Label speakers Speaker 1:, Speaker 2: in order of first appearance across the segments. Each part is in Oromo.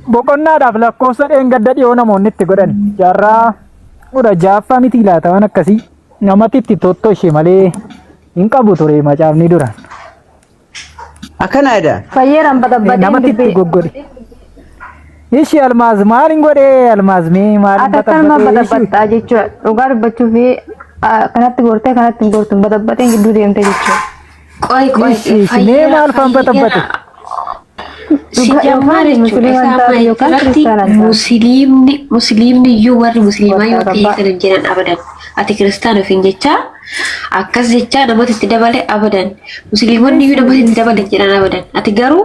Speaker 1: Boqonnaadhaaf lakkoofsa dheengadda dhiyoo namoonni itti godhan jaarraa kudha jaaffaa miti laata waan akkasii namatti itti tottoshe malee hin qabu ture macaafni dura. Akkana
Speaker 2: jedha. Fayyeeraan baxabbaxeen
Speaker 3: Namatti itti dubbee. goggode.
Speaker 1: Ishi almaaz maal hin godhe almaaz mee maal hin Atattanuma baxabbaxee ishi. baxabbaxaa
Speaker 3: jechuudha. Dhugaa dubbachuuf kanatti gortee kanatti hin gortu baxabbaxeen gidduu deemte jechuudha. Qoy qoy Ishi, ishi,
Speaker 4: fayyera, mee maal faan
Speaker 1: fayyera. batabbate? Si Dhugaa jammaa yookaan jechuudha. musliima Isaa taate maal yookaan
Speaker 4: irratti kiristaana taate. musliimni musliimni iyyuu warri musliimaa yoo ta'e Warra kan hin jedhan abadan. Ati kiristaana ofiin jechaa akkas jechaa namatti itti dabale abadan. Musliimonni iyyuu namatti itti dabale jedhan abadan. Ati garuu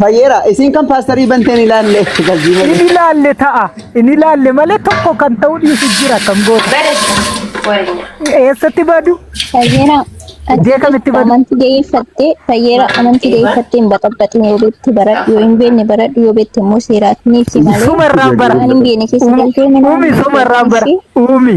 Speaker 2: Fayyeera isiin kan paastarii banteen ilaalle galbii malee. Inni ilaalle ta'a.
Speaker 1: Inni ilaalle malee tokko kan ta'uu dhiisu jira kan goota. Eessatti badu? Fayyeera.
Speaker 3: Iddoo kamitti
Speaker 1: badu? Amantii deeffattee
Speaker 3: fayyeera amantii deeffattee hin baxaxaxin yoo beekte baradhu yoo hin beekne baradhu yoo beekte immoo seeraatti ni ibsi malee. Suma irraan bara. Waan hin beekne
Speaker 1: keessa galtee
Speaker 3: mana. Uumi suma irraan bara.
Speaker 1: Uumi.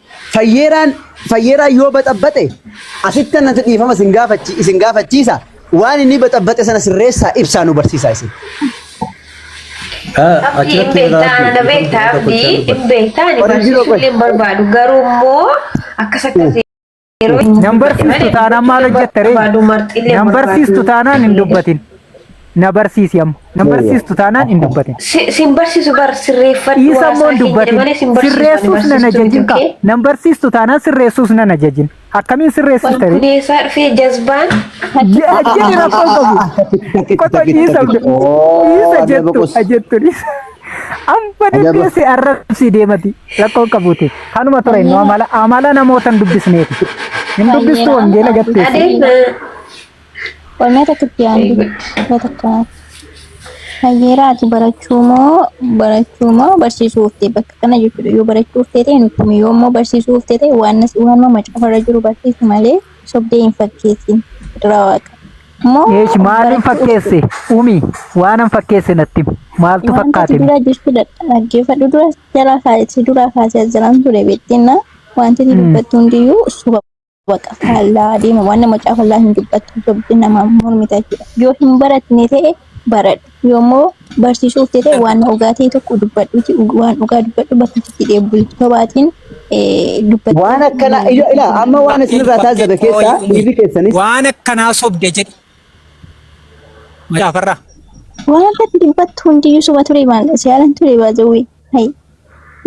Speaker 2: Fayyeeraan fayyeeraan yoo baxabbaxe asitti annatti dhiifama isin gaafachi isin gaafachiisa waan inni baxabbaxe sana sirreessaa ibsaa nu barsiisaa isin. Abdii hin beektaa ana beektaa abdii hin beektaa ani barsiisuu
Speaker 1: hin barbaadu garuu immoo akkas akkas Nan barsiistu taanaan maal hojjetta ree? Nan barsiistu taanaan hin dubbatin. Na barsiisi amma. Nan barsiistu taanaan hin dubbatin. Sin barsiisu bar
Speaker 4: sirreeffadhu. Dhiisa immoo hin dubbatin.
Speaker 1: Sirreessuus nan ajajin ka. Nan barsiistu taanaan sirreessuus nan ajajin. Akkamiin sirreessista ree? Walbudeessaa
Speaker 4: dhufee jazbaan. Ajjani
Speaker 1: rakkoo qabu. Qoto dhiisa. Dhiisa jettu. Jettu dhiisa. Amma deemtee si arrabsii deemati rakkoo hin qabuuti. Kanuma ture inni amala amala namoota hin dubbisneeti. Hin dubbistu wangeela gatteessi.
Speaker 3: Qormee tokkotti yaaddu mee tokko hayyeera ati barachuu moo barachuu moo barsiisuu uftee bakka kana jechuudha yoo barachuu uftee ta'e nutti himi yoo immoo barsiisuu uftee ta'e waan waan macaafarra jiru barsiisi malee sobdee hin fakkeessin fedhiraa waaqa. Moo Eesh
Speaker 1: maaliin fakkeesse? Umi waanan fakkeesse natti himi. maaltu Wanta si fakkaate? dura jirtu
Speaker 3: dhaggeeffadhu dura jalaa kaa'e si dura kaasee as jiraan ture beektinna wanti inni dubbattu hundiyyuu soba baqa faallaa adeema waan nama caafallaa hin dubbattu sobdi nama mormita jechuudha yoo hin baratne ta'e baradhu Yommuu barsiisuuf jedhee waan dhugaa ta'e tokko dubbadhuuti waan dhugaa dubbadhu bakka itti deebi'u sobaatiin dubbadhu. Waan akkana
Speaker 2: ila ila amma waan isinirraa taasisan keessaa dhiirri keessanis Waan akkanaa sobde
Speaker 5: jedhi. Macaafarraa. Waan irratti
Speaker 3: dubbattu hundiyyuu soba ture maal siyaalan ture baazawwee. Hay.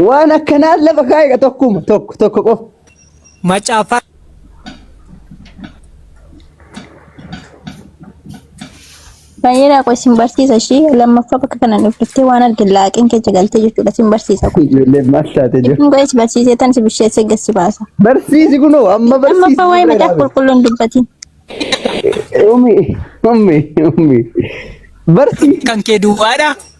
Speaker 2: Waan akkanaa lafa kaa'e tokkuma tokko tokko qofa. Macaafa
Speaker 3: Baay'ee raaqoo isin barsiisa ishii lammaffaa bakka kana dhufte waan arge laaqeen kee jagaltee jechuudha isin barsiisa kun. Ijoollee maal taate jiru?
Speaker 2: Isin go'ees barsiisee tan si
Speaker 3: bisheessee gassi baasa. Barsiisi kunoo
Speaker 2: amma barsiisi. Lammaffaa waa'ee macaafa qulqulluu
Speaker 3: hin dubbatin. Ummi
Speaker 2: ummi ummi barsiisi. kan kee duwwaadha.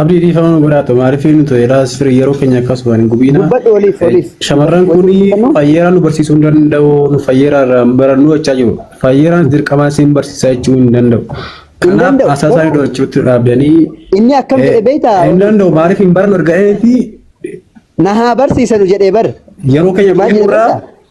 Speaker 6: Abdii dhiifama nu godhaa to maaliif inni to jedhaa sirrii yeroo keenya akkas waan hin gubiina. Dubbadhu oliif oliif.
Speaker 2: Shamarran kun
Speaker 6: fayyeeraa nu barsiisuu hin danda'u nu fayyeeraa irraa hin barannuu jechaa jiru. Fayyeeraan dirqamaa isin barsiisaa jechuu hin danda'u. Kanaaf danda'u. haasaa isaanii dho'achuutti dhaabdanii Inni akkam jedhe
Speaker 2: beektaa? hin danda'u maaliif hin
Speaker 6: barannu erga eetii Na
Speaker 2: haa barsiisanu jedhee bar. yeroo keenya Maal jedhe
Speaker 6: gurgurraa beektaa?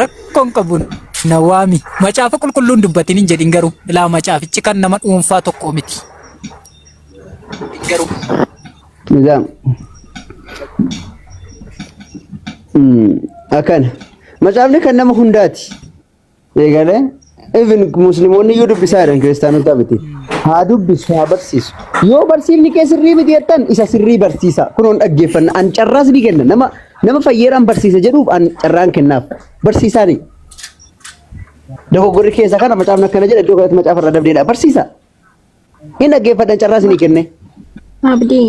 Speaker 5: Rakkoon qabu na waami. Macaafa qulqulluun dubbatiin hin jedhin garuu ilaa macaafichi kan nama dhuunfaa tokko miti. Garuu Nizaam.
Speaker 2: Mm, Akkana. Macaafni kan nama hundaati. eegalee even musliimonni iyyuu dubbisaa jedhan kiristaanota miti haa dubbisu haa barsiisu yoo barsiifni kee sirrii miti jettan isa sirrii barsiisa kunoon dhaggeeffanna an carraas ni kenna nama nama fayyeeraan barsiisa jedhuuf an carraan kennaaf barsiisaani dogoggorri keessa kana macaafni akkana jedha iddoo kanatti macaafa irraa dabdeedha barsiisa hin dhaggeeffadhan carraas ni kenne Abdii.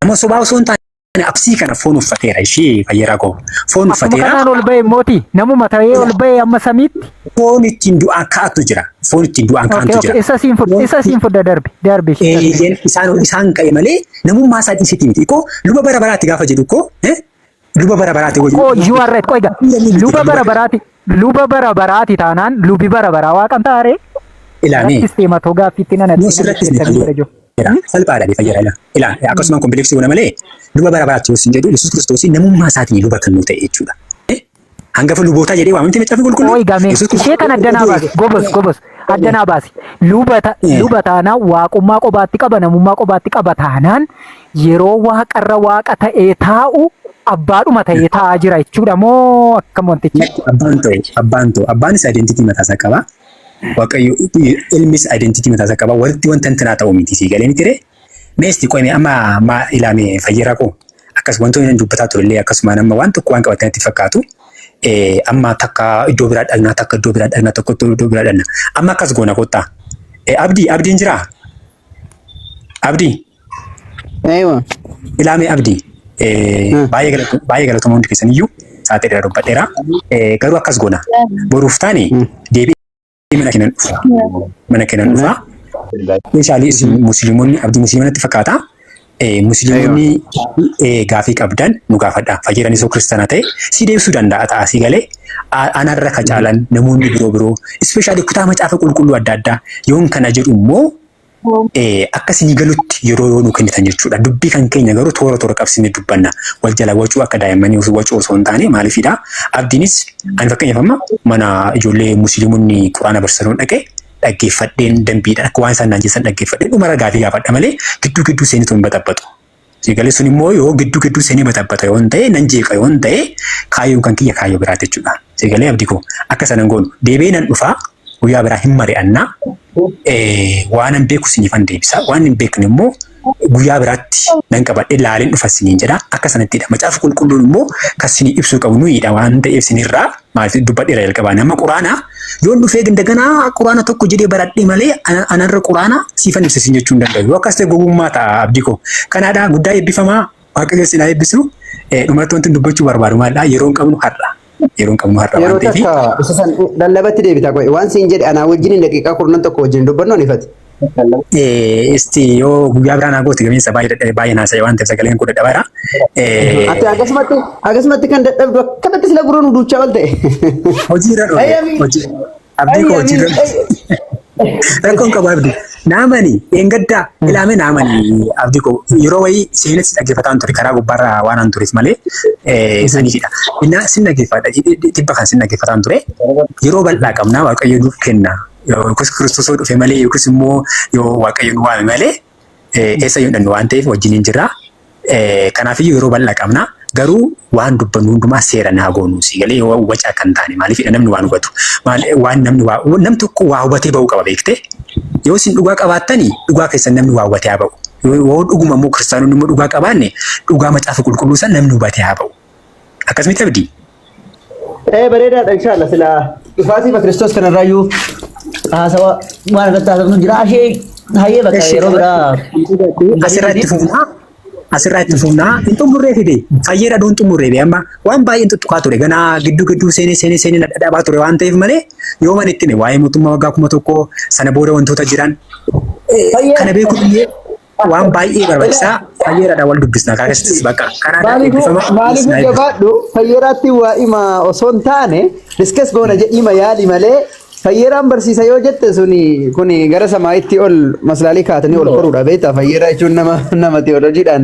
Speaker 7: Nama sobaa osoo hin taane absii kana foon uffateera ishee fayyeeraa koo. Foon uffateera. Kanaan
Speaker 1: ol
Speaker 7: ba'e mooti
Speaker 1: namuma ta'ee ol ba'e amma samiitti. Foon ittiin
Speaker 7: du'aan ka'atu jira. Foon ittiin du'aan ka'antu jira. Isa siin fudhe isa siin fudhe
Speaker 1: darbi darbi. Isaan
Speaker 7: isaan ka'e malee namummaa isaa dhiisiti miti. Koo luba bara baraatti gaafa jedhu koo Luba bara baraati wajjin. Qoy you are right. Qoy
Speaker 1: ga. Luba bara baraati. Luba bara baraati taanaan lubi bara baraa waaqan taare. Ilaami. Rattis
Speaker 7: deema too gaaffiitti
Speaker 1: nana. Yoo sirratti hin
Speaker 7: fayyadamu. Salphaadha ni fayyada ilaa. Ilaa akkasuma kompleksii goona malee luba bara baraatti yoo sin jedhu Yesuus Kiristoos namummaa isaatiin luba kan nu ta'e jechuudha. Hangafa lubootaa jedhee waama miti macaafni qulqulluu. Qoy gamee Yesuus Kiristoos ishee kan
Speaker 1: adda naa utuu baasi eegaa- gobos gobos adda naa baasi luba ta- Eh. luba taanaan waaqummaa qobaatti qaba namummaa qobaatti qaba taanaan yeroo waaqarra waaqa ta'ee taa'u abbaadhuma ta'ee taa'aa jira jechuudha moo akkam wantichi Lakki abbaan ta'u abbaan ta'u
Speaker 7: abbaanis identity mataa isaa qaba. Waaqayyo ilmis identity mataa isaa qaba. Walitti wanta intinaa ta'u miti sii galee miti ree. Mee isti qoy mee amma ma ilaa mee fayyeeraa koo akkas wantoonni nan dubbataa turellee akkasumaan amma waan tokko waan qabatanitti fakkaatu eh, amma takka iddoo biraa dhaqnaa takka iddoo biraa dhaqnaa tokko iddoo biraa dhaqna amma akkas goona kottaa eh, abdii abdiin jiraa abdii
Speaker 2: Eeywa. ilaa mee
Speaker 7: abdii eh, Hmm. baay'ee galatu- baay'ee galatoomaa hundi keessaniyyuu sa'aatii dheeraa dubbadheera eh, garuu akkas goona boruuf taane Hmm. deebi'ee mana kenan dhufa mana kenan dhufa meeshaalee isin musliimonni abdii musliimanatti fakkaata musliimonni gaafii qabdan nu gaafadha fayyadani soo kiristaana ta'e si deebisuu danda'a ta'a si galee anarra ka caalan namoonni biroo biroo ispeeshaalii kutaa macaafa qulqulluu adda addaa yoon kana jedhu immoo akka sinii galutti yeroo yoo nu kennitan jechuudha. Dubbii kan keenya garuu toora toora qabsiisnee dubbanna. Wal jala wacuu akka daa'immanii osoo wacuu osoo hin taane maaliifidha? Abdiinis ani fakkeenyaaf amma mana ijoollee musliimonni quraana barsiisanii dhaqee dhaggeeffadheen dambiidhaan akka waan isaan naan jedhan dhaggeeffadheen dhuma irra gaafii gaafadha malee gidduu gidduu seenutu hin baxabaxu. Eegalee sun immoo yoo gidduu gidduu seenee batabbata yoon ta'e nan jeeqa yoon ta'e kaayyoon kan kiyya kaayyoo biraa jechuudha. Eegalee abdi koo akka sanan goonu deebi'ee nan dhufaa guyyaa biraa hin mari'annaa waanan beeku siniifan deebisa waan hin beekne immoo guyyaa biraatti nan qabadhe laaleen dhufa siniin jedha akka sanattidha. Macaafa qulqulluun immoo kan sinii ibsuu qabu nuyiidha waan ta'eef sinirraa maal dubbadheera jalqabaa nama quraanaa Yoon dhufee ganda ganaa quraana tokko jedhee baradhee malee ana- anarra quraana siifan ibsa siin jechuu hin danda'u. Yoo akkas ta'e gowwummaa ta'a abdii koo. Kanaadhaa guddaa eebbifamaa waaqayyo sinaa eebbisu. Eh, Dhumarratti wanti dubbachuu barbaadu maalidhaa? Yeroon qabnu har'a. Yeroon qabnu har'a waan Yeroo ta'eef. takka isa san lallabatti
Speaker 2: deebita qo'e. Waan siin jedhe anaa wajjin daqiiqaa kurnan tokko wajjin dubbannu ani ifate.
Speaker 7: Isti yoo guyyaa biraa naa goote gamiinsa baay'ee dadhabe baay'ee naa sa'e waan ta'eef sagaleen koo dadhabaadha. Ati
Speaker 2: akkasumatti akkasumatti kan dadhabdu akkanatti sila gurra nu duuchaa ol ta'e. Hojii irra dhufe.
Speaker 7: Ayyami. Hojii. Abdii koo hojii irra dhufe. Rakkoon qabu abdii. Naamani dheengaddaa ilaame naamani abdii koo yeroo wayii seenessi dhaggeeffataan ture karaa gubbaarraa waan an tureef malee saniifidha. Innaa sin dhaggeeffadha dhibba kan sin dhaggeeffataan ture yeroo bal'aa qabnaa waaqayyo nuuf kenna. yookiis Kiristoos yoo dhufe malee yookiis immoo yoo Waaqayyo nu waame malee eessa yoo dhannu waan ta'eef wajjin hin jirra. Kanaafiyyuu yeroo bal'aa qabna. Garuu waan dubbannu hundumaa seera naa goonuu si galee yoo wacaa kan taane maaliifidha namni waan hubatu. Waan namni waa namni tokko waa hubatee ba'uu qaba beektee. Yoo isin dhugaa qabaattanii dhugaa keessan namni waa hubatee haa ba'u. Yoo dhuguma immoo kiristaanonni immoo dhugaa qabaanne dhugaa macaafa qulqulluu san namni hubatee haa ba'u. Akkas miti abdii. Ee
Speaker 2: bareedaadha inshaalla sila dhufaatii ma Kiristoos kanarraayyuu haasawa waan irratti haasofnu jira ashee hayyee bakka Eshi, yeroo biraa Asirraa itti fufnaa.
Speaker 7: Asirraa itti fufnaa. Hin xumurree fide. Fayyeedha duun xumurree be amma waan baay'een tuttuqaa ture. Ganaa gidduu gidduu seenee seenee seenee na dhadhabaa ture waan ta'eef malee yoo man itti hime waa'ee mootummaa waggaa kuma tokkoo sana booda wantoota jiran. eh, Fayyee- Kana beekuun illee waan baay'ee barbaachisaa fayyeeradha wal dubbisna karaa keessattis bakka kanaa Maaliif eebbifama maaliif isin haa eebbisu. jabaadhu
Speaker 2: fayyeraatti waa ima osoo hin taane diskas goona jedhiima yaali malee fayyeraan barsiisa yoo jette suni kuni gara samaa'itti ol maslaalii kaatanii ol koruudha beektaa fayyera jechuun nama nama teolojiidhaan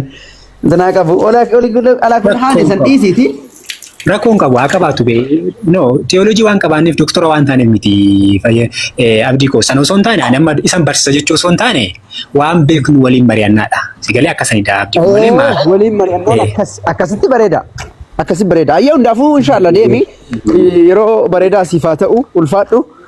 Speaker 2: Zanaa qabu. Olaa olii guddaa alaa kun haala Rakkoon isan qabu. dhiisiiti. Rakkoon qabu
Speaker 7: haa qabaatu bee. No, teewooloojii waan qabaanneef doktora waan taaneef miti fayya eh, abdii koo. Sana osoo hin taane ani amma isan barsiisa jechuu osoo hin taane waan beeknu waliin mari'annaadha. Sigalee akkasanidha abdii koo malee maa. Oo, waliin mari'annoon Eh.
Speaker 2: akkas akkasitti bareeda. Akkasitti bareeda. Ayyee hundaafuu inshaallah deemi. Yeroo bareedaa siif haa ta'u ulfaadhu.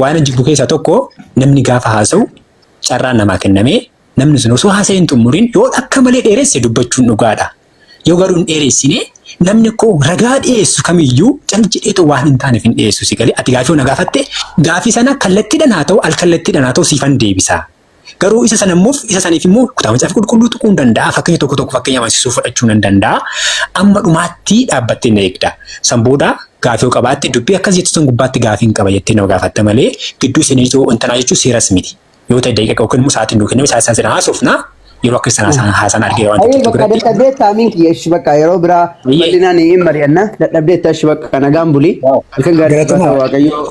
Speaker 7: Waan jibbu keessaa tokko namni gaafa haasa'u carraan namaa kennamee namni sun osoo haasa'ee hin xumuriin yoo akka malee dheeresse dubbachuun dhugaadha. Yoo garuu hin dheeressine namni koo ragaa dhiyeessu kamiyyuu cal jedheetoo waan hin taaneef hin dhiyeessu si galee ati gaafii na gaafatte gaafii sana kallattiidhaan haa ta'u al kallattiidhaan haa ta'u siifan deebisaa. Garuu isa sana immoo isa saniif immoo kutaa macaafa qulqulluu tuquu hin danda'a. Fakkeenya tokko tokko fakkeenya amansiisuu fudhachuu nan danda'a. Amma dhumaatti dhaabbattee na eegda. San booda gaafii yoo qabaatte dubbii akkas jettu san gubbaatti gaafii hin qaba jettee nama gaafatta malee gidduu seenee yoo intanaa jechuun seeras miti. Yoo ta'e daqiiqa yookiin immoo sa'aatiin nuu kenname sa'aatiin sana haasofna. Yeroo akka sana haasaan haasaan argee waan Ayi tokko bakka biratti. dadhabdee
Speaker 2: taamiin kiyya ishi bakka yeroo biraa Ayyee. bal'inaan hin mari'anna dadhabdee tashi bakka nagaan bulii halkan gaarii Galatuma. Waaqayyoo.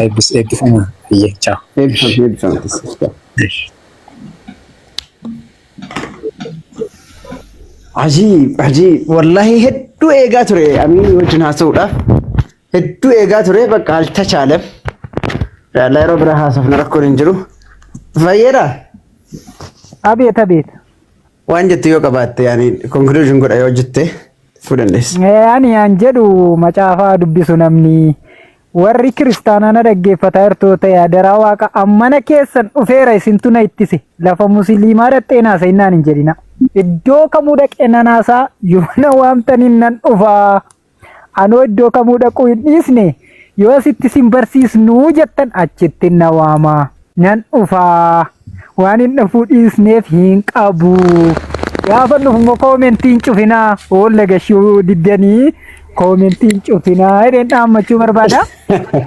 Speaker 2: Eebbis
Speaker 7: eebbifama. Hayyee chaaw.
Speaker 2: Eebbifaam Ishi. eebbifaam tasfas chaaw. Ishi. Ajiib ajiib wallahi hedduu eegaa ture amiin wajjin haasa'uudhaaf hedduu eegaa ture bakka al tachaalem yaalla yeroo biraa haasofna rakkoon hin jiru fayyeedha
Speaker 1: Abeet abeet.
Speaker 2: waan jettu yoo qabaatte yaani conclusion godha yoo jette fuu dandeessa. Eh, Ani an
Speaker 1: jedhu macaafaa dubbisu namni Warri kiristaanaa na dhaggeeffataa jirtu yoo ta'e adaraa waaqa ammana keessan dhufeera isintu na ittise lafa musiliimaa dhaqxee naasa'in naan hin jedhina. Iddoo kamuu dhaqee nan haasaa yoo na waamtaniin nan dhufaa. Anoo iddoo kamuu dhaquu hin dhiisne yoo asitti sin barsiisnuu jettan achitti na waamaa. Nan dhufa. Waan hin dhufuu dhiisneef hin qabu. Gaafa dhufu immoo koomentii hin cufinaa. Hoolla gashuu diddanii koomentii hin cufinaa. Jedheen dhaammachuu barbaada.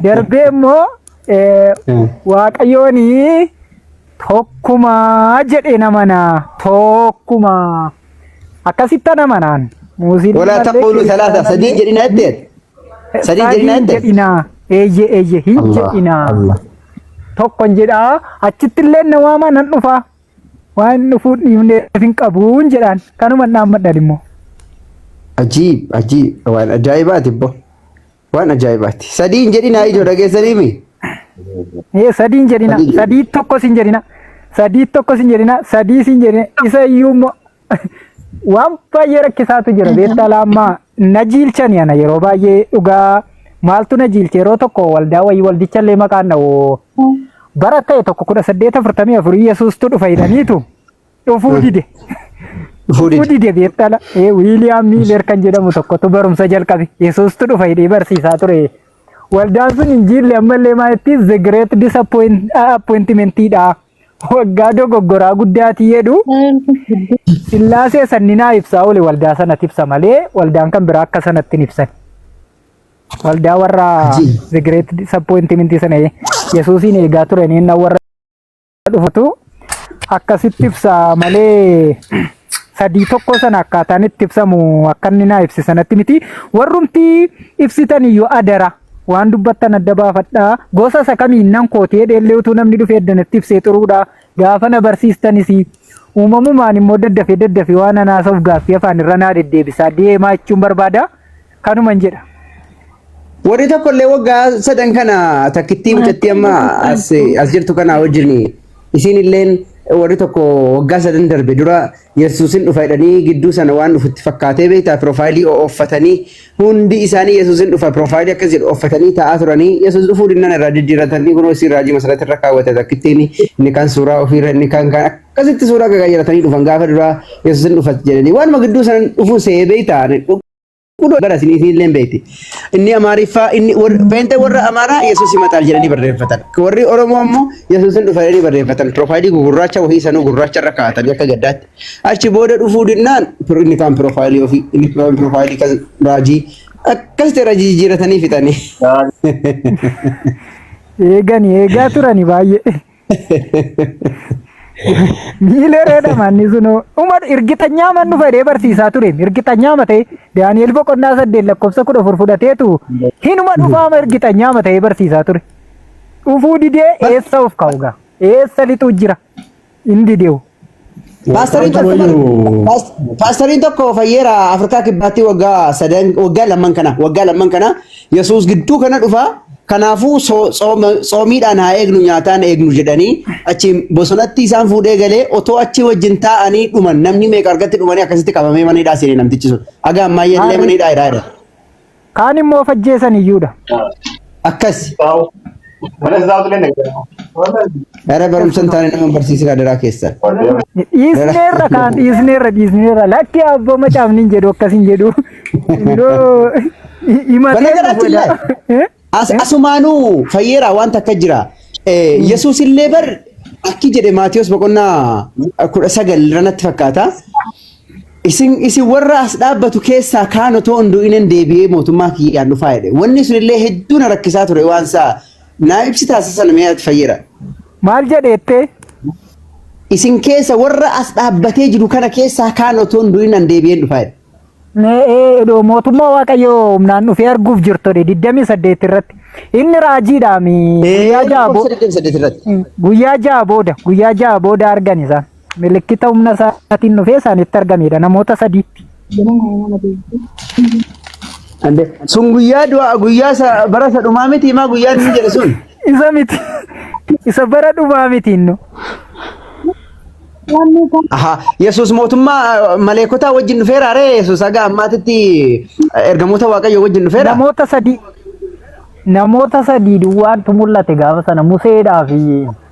Speaker 1: Darbee immoo eh, Mm. waaqayyooni tokkumaa jedhee namanaa. Tokkumaa. Akkasittan amanaan. Muuziin Walaa ilmallee taqulu
Speaker 2: salaasa keessaa sadii jedhina jettee. Sadii Sadii jedhinaa hin jettan? jedhinaa. Eeyyee
Speaker 1: eeyyee hin Allah, jedhinaa. Allah. Tokkon jedhaa achitti illee na waamaa nan dhufaa. Waan dhufuu dhiifnee hin qabuun jedhaan kanuma dhaammadhan immoo. Ajiib, ajiib,
Speaker 2: waan ajaa'ibaati bbo. Waan ajaa'ibaati. Sadii hin jedhinaa ijoo dhageessanii mi? Ee sadii hin jedhina.
Speaker 1: Sadii jedhina. Sadii tokkos hin jedhina. Sadii tokkos hin jedhina. Sadii hin jedhina. Isa iyyuu immoo waan baay'ee rakkisaatu jira beektaa laammaa na jiilchani ana yeroo baay'ee dhugaa maaltu na jiilche yeroo tokko waldaa wayii waldichallee maqaan dha'u bara ta'e tokko kudha saddeet afurtamii afurii yesuustu dhufa jedhaniitu dhufuu dide dhufuu dide. dide beektala ee wiiliyaam miiler kan jedhamu tokkotu barumsa jalqabe yesuustu dhufa jedhee barsiisaa ture waldaan sun hin jiille ammallee maalittis the great disappointment dha Waggaa dogoggoraa guddaatii jedhu sillaasee sanninaa ibsaa oole waldaa sanatti ibsa malee waldaan kan biraa akka sanatti hin ibsan. Waldaa warra the great disappointment sana Yesuusiin eegaa turanii inni warra dhufatu akkasitti ibsa malee sadii tokko sana akkaataan itti ibsamu akka inni naa ibse sanatti miti warrumti ibsitan iyyuu adara waan dubbattan adda baafadha gosa isa kamiin nan kooti jedheellee utuu namni dhufee addanatti ibsee xuruudha gaafa na barsiistanis uumamumaan immoo daddafee daddafee waan anaasaaf gaaffii afaan irra naa deddeebisaa deemaa jechuun barbaada. kanuman jedha.
Speaker 2: Warri tokko illee waggaa sadan kana takkittii mucattii amma as as jirtu kana wajjin isiin illeen warri tokko waggaa sadan darbe dura Yesuusin dhufa jedhanii gidduu sana waan dhufutti fakkaatee beektaa piroofaayilii ooffatanii hundi isaanii Yesuusin dhufa piroofaayilii akkas jedhu ooffatanii taa'aa turanii Yesuus dhufuu dinnan irraa jijjiiratanii kunoo isiin raajii masarratti irra kaawwate takkittiin inni kan suuraa ofiirra inni kan kan akkasitti suuraa gagaajaratanii dhufan gaafa duraa Yesuusin dhufa jedhanii waanuma gidduu sana dhufuu se'ee beektaa Kunoo gara isin isinillee hin beekti. Inni Amaariffaa inni warri- feente warra Amaaraa Yesuus himataa jedhanii barreeffatan. Warri Oromoo ammoo Yesuus hin dhufa jedhanii barreeffatan. Piroofaayilii gugurraacha wahii sanuu gurraacha irra kaa'atanii akka gaddaatti. Achi booda dhufuu dinnaan pir- inni kaan piroofaayilii ofii inni kaan piroofaayilii kan raajii akkas ta'e raajii jijjiiratanii fixanii.
Speaker 1: Eegani eegaa turani baay'ee. Miilee reedha manni sunoo. Uma irgixanyaa man dhufa jedhee barsiisaa ture. Irgixanyaa matee Daani'el boqonnaa saddeet lakkoofsa kudha afur fudhateetu hinuma dhufaama irgixanyaa matee barsiisaa ture. Dhufuu didee eessa of kaa'u gaa? Eessa lixuu jira? Hin dideewu. Paastariin Waaqaatu tokko bar- wayyuu.
Speaker 2: paas- paastariin tokko fayyeera Afrikaa kibbaatti waggaa sadan waggaa lamman kana waggaa lamman kana Yesuus gidduu kana dhufa kanaafuu so- sooma- soomiidhaan haa eegnu nyaataan eegnu jedhanii achi bosonatti isaan fuudhee galee otoo achi wajjin taa'anii dhuman namni meeqa argatti dhumanii akkasitti qabamee mana hidhaa seenee namtichi sun haga ammaayyaa illee mana hidhaa hidhaa jira. Kaan
Speaker 1: immoo of ajjeesan iyyuu dha. Akkas.
Speaker 2: Dhara barumsa hin taane nama barsiisaa adaraa keessan. Dhiisneerra kaan dhiisneerra
Speaker 1: dhiisneerra lakki abboo macaafni hin jedhu akkas hin jedhu. Yoo himatee Banagaraatti illee Eh? as asumaanuu
Speaker 2: fayyeeraa waan takka jira. Eh, Yesuus illee bar akki jedhe Maatiyos boqonnaa kudha sagal irratti fakkaata. Isin isin warra as dhaabbatu keessaa kaan otoo hin du'inen deebi'ee mootummaa kiyyaan dhufaa jedhe. Wanni sun illee hedduu na rakkisaa ture waan isaa naa ibsi taasisan mee ati fayyira. Maal jedheette? Isin keessa warra as dhaabbatee jiru kana keessaa kaan otoo hin du'inan deebi'een dhufaa jedhe. Mee ee, do-
Speaker 1: mootummaa waaqayyoo humnaan dhufee arguuf jirtodhe 28 irratti. Inni raajiidhaami. Guyyaa ja'a bo- Guyyaa ja'a booda guyyaa ja'a booda argan isaan. milikkita humna isaatiin dhufee isaanitti argameedha namoota sadiitti.
Speaker 2: Ande sun guyyaa du'a guyyaa sa bara sa dhumaa miti maa guyyaa inni jedhe sun. Isa miti
Speaker 1: isa bara dhumaa miti innu.
Speaker 2: Aha Yesuus mootummaa maleekotaa wajjin dhufeera ree Yesuus haga ammaatitti ergamoota waaqayyoo wajjin dhufeera. Namoota sadii namoota
Speaker 1: sadii duwwaantu mul'ate gaafa sana Museedhaa fi